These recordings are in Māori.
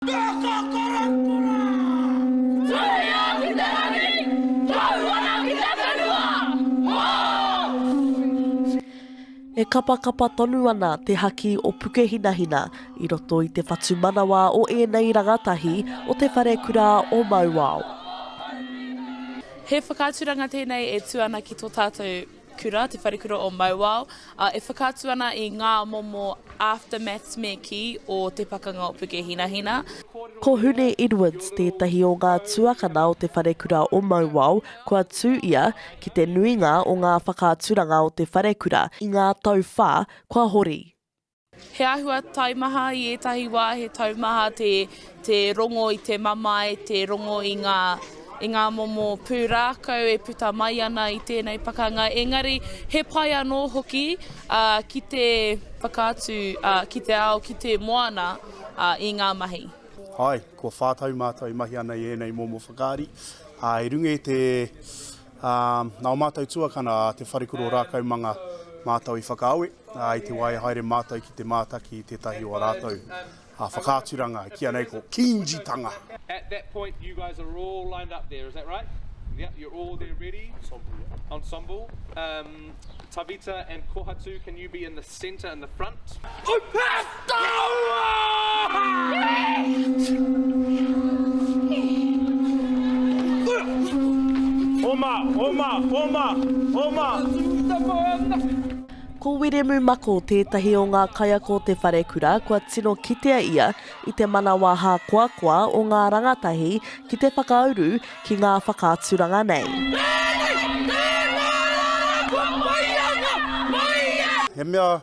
E kapakapa tonu ana te haki o Pukehinahina i roto i te whatumanawa o ēnei rangatahi o te wharekura o Mauao. He whakaaturanga tēnei e tū ana ki tō tātou. Kura, Te Wharekura o Mauao, ā, e whakaatu ana i ngā momo aftermaths me kī o te pakanga o Pukehinahina. Ko Hune Edwards tētahi o ngā tuakana o Te Wharekura o Mauao kua tū ia ki te nuinga o ngā whakaaturanga o te wharekura i ngā tau whā kua hori. He āhua taimaha i ētahi wā, he taumaha te, te rongo i te mamae, te rongo i ngā, i ngā momo pūrākau e puta mai ana i tēnei pakanga, engari he pai anō hoki ā, ki te whakaatu ā, ki te ao, ki te moana ā, i ngā mahi. Āe, kua whā tau mātou i mahi ana i ēnei momo whakaari, ā, i runga i te, Ā, nā ō mātou tuakana a te Wharekura o Rākaumanga mātou i whakaawe, ā, i te wā e haere mātou ki te mātaki i tētahi o ā rātou whakaaturanga, kīia nei ko Kīngitanga. At that point you guys are all lined up there, is that right? Yep, you're all there ready. Ensemble, yep. Ensemble. Umm, Tavita and Kohatu, can you be in the. Centre in the front. Oma, oma, oma, oma! Ko Wiremu Mako tētahi o ngā kaiako o te wharekura kua tino kitea ia i te manawa hākoakoa o ngā rangatahi ki te whakauru ki ngā whakaaturanga nei. He mea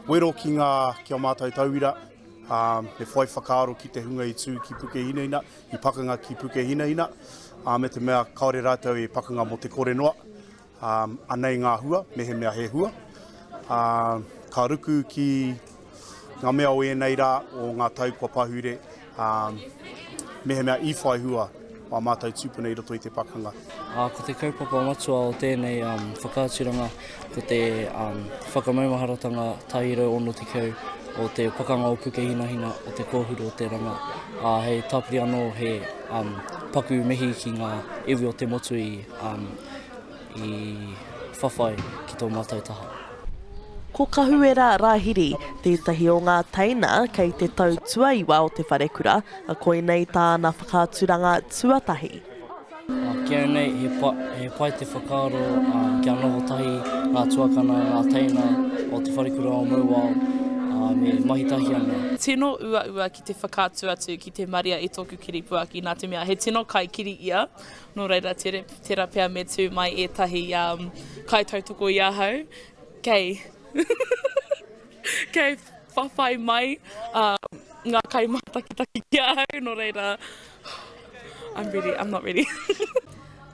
wero ki ngā, ki a mātou tauira, he whai whakaaro ki te hunga i tū ki Pukehinahina, i pakanga ki Pukehinahina, me te mea kāore rātou e pakanga mō te kore noa. Anei ngā hua, mehemea he hua. Ka ruku ki ngā mea o ēnei rā, o ngā tau kua pahure, mehemea i whai hua ā mātou tūpuna i roto i te pakanga. Ko te kaupapa matua o tēnei whakaaturanga ko te whakamaumaharatanga tahi rau ono tekau o te Pakanga o Pukehinahina o Te Kōhuru o Te Ranga, ā, hei tāpiri anō he paku mihi ki ngā iwi o te motu i. i whawhai ki tō mātou taha. Ko Kahuera Rahiri tētahi o ngā teina kei te tau tuaiwa o te wharekura, koinei tāna whakaaturanga tuatahi. Ki au nei, he pa, he pai te whakaaro kia noho tahi ngā tuakana, ngā teina o Te Wharekura o Mauao, ā, me mahi tahi ana. Tino uaua ki te whakaatu atu ki te maria i tōku kiripuaki nā te mea he tino kaikiri ia Nō reira, tērā pea me tū mai ētahi kaitautoko i ahau kei kei whawhai mai ngā kaimātakitaki ki ahau, nō reira, I'm ready, I'm not ready.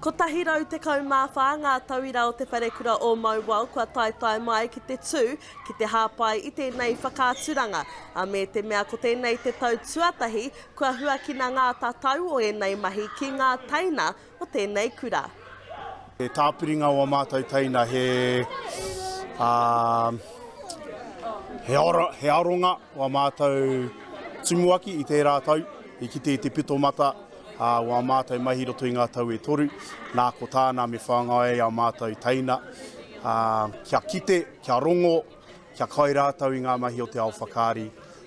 114 ngā tauira o Te Wharekura o Mauao kua taetae mai ki te tū ki te hāpai i tēnei whakaaturanga, ā, me te mea ko tēnei te tau tuatahi Kua huakina ngā tatau o ēnei mahi ki ngā teina o tēnei kura. He tāpiringa o a mātou teina, he, ā, he aro, he aronga o a mātou tumuaki i tērā tau, i kite i te pito mata, ā, o a mātou mahi i roto i ngā tau e toru. Nā, ko tāna me whāngai ai a mātou teina, ā, kia kite, kia rongo, kia kai rātou i ngā mahi o te ao whakaari.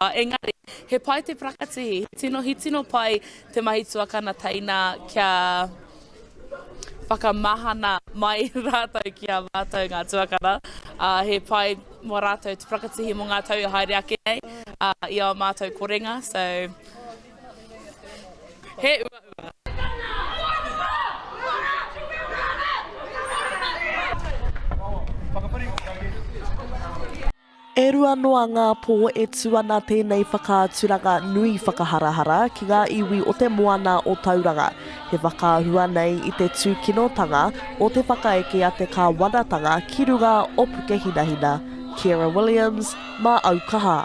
Engari, he pai te prakatihi, he tino he tino pai te mahi tuakana teina kia whakamahana mai ratou ki a matou nga tuakana, a he pai mo ratou te prakatihi mo nga tau e haere ake nei, a i ao matou korenga, so he uaua. E rua noa ngā pō e tū ana tēnei whakaaturanga nui whakaharahara ki ngā iwi o te moana o Tauranga. He whakaahua nei i te tūkinotanga o te whakaeke a te kāwanatanga ki runga o Pukehinahina. Ciara Williams, mā Aukaha.